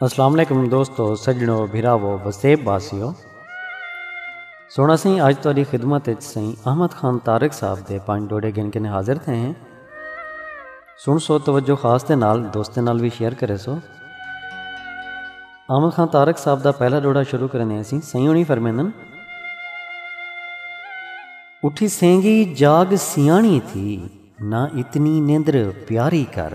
السلام علیکم دوستو سجنو بھراو وسیب باسیو سونا سائیں اج تہاڈی خدمت وچ سائیں احمد خان طارق صاحب دے پانچ ڈوڑے گن کے حاضر تھے ہیں سن سو توجہ خاص دے نال دوستیں نال وی شیئر کرے سو۔ آمل خان تارک صاحب دا پہلا ڈوہڑا شروع کرنے ہیں سی سئیں ہونی فرمیندن۔ اٹھی سینگی جاگ سیاݨی تھی نہ اتنی نیندر پیاری کر۔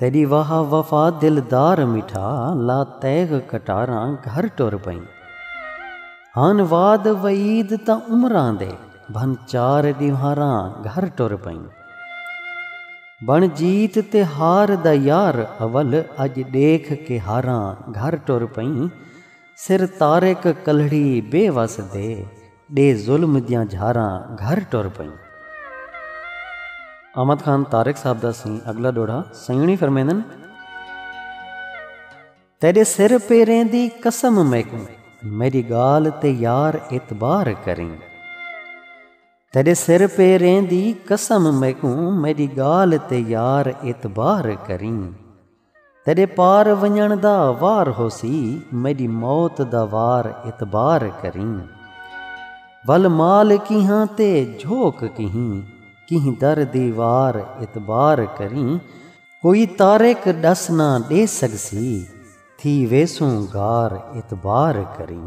تیݙی واہ وفا دلدار مٹھا لا تیغ کٹاراں گھر ٹر پئیں ہن وعد وعید تاں عمراں دے بھن چار ݙیوہاراں گھر ٹر پئیں بݨ جیت تے ہار دا یار اول اڄ ݙیکھ کے ہاراں گھر ٹر پئیں سر طارق کلہڑی بے وس دے ݙے ظلم دیاں جھاراں گھر ٹر پئیں۔ احمد خان طارق صاحب دا سئیں اڳلا ݙوہڑا سئیݨی فرمیندن۔ تیݙے سر پیریں دی قسم میکوں میݙی ڳالھ تے یار اعتبار کریں۔ تیݙے سر پیریں دی قسم میکوں میݙی ڳالھ تے یار اعتبار کریں۔ تیݙے پار ونڄݨ دا وار ہوسی میݙی موت دا وار اعتبار کریں ول مال کیہاں تے جھوک کہیں کہیں در دی وار اعتبار کریں کوئی طارق ݙس نہ ݙے سڳسی تھی ویسوں گار اعتبار کریں۔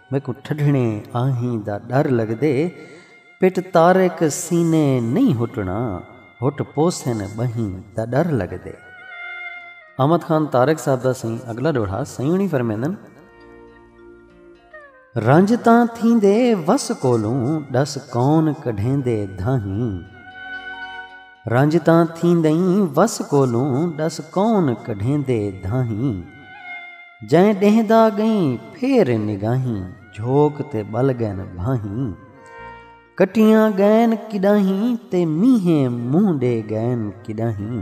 میکوں ٹھڈھݨے آہیں دا ݙر لڳدے پٹ طارق سینے نئیں ہٹݨا ہٹ پوسن ٻہیں دا ݙر لڳدے۔ احمد خان طارق صاحب دا سئیں اڳلا ݙوہڑا سئیں ہوݨی فرمیندن۔ رنج تاں تھیندے وس کولوں ݙس کون کڈھیندے دھاہیں۔ رنج تاں تھیندئیں وس کولوں ݙس کون کڈھیندے دھاہیں جئیں ݙیہندا ڳئیں پھیر نگاہیں جھوک تے ٻل ڳئن بھاہیں کٹیاں ڳئن کݙاہیں تے مینہہ مونہہ ݙے ڳئن کݙاہیں۔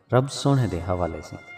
رب سوہݨے دے حوالے سیں۔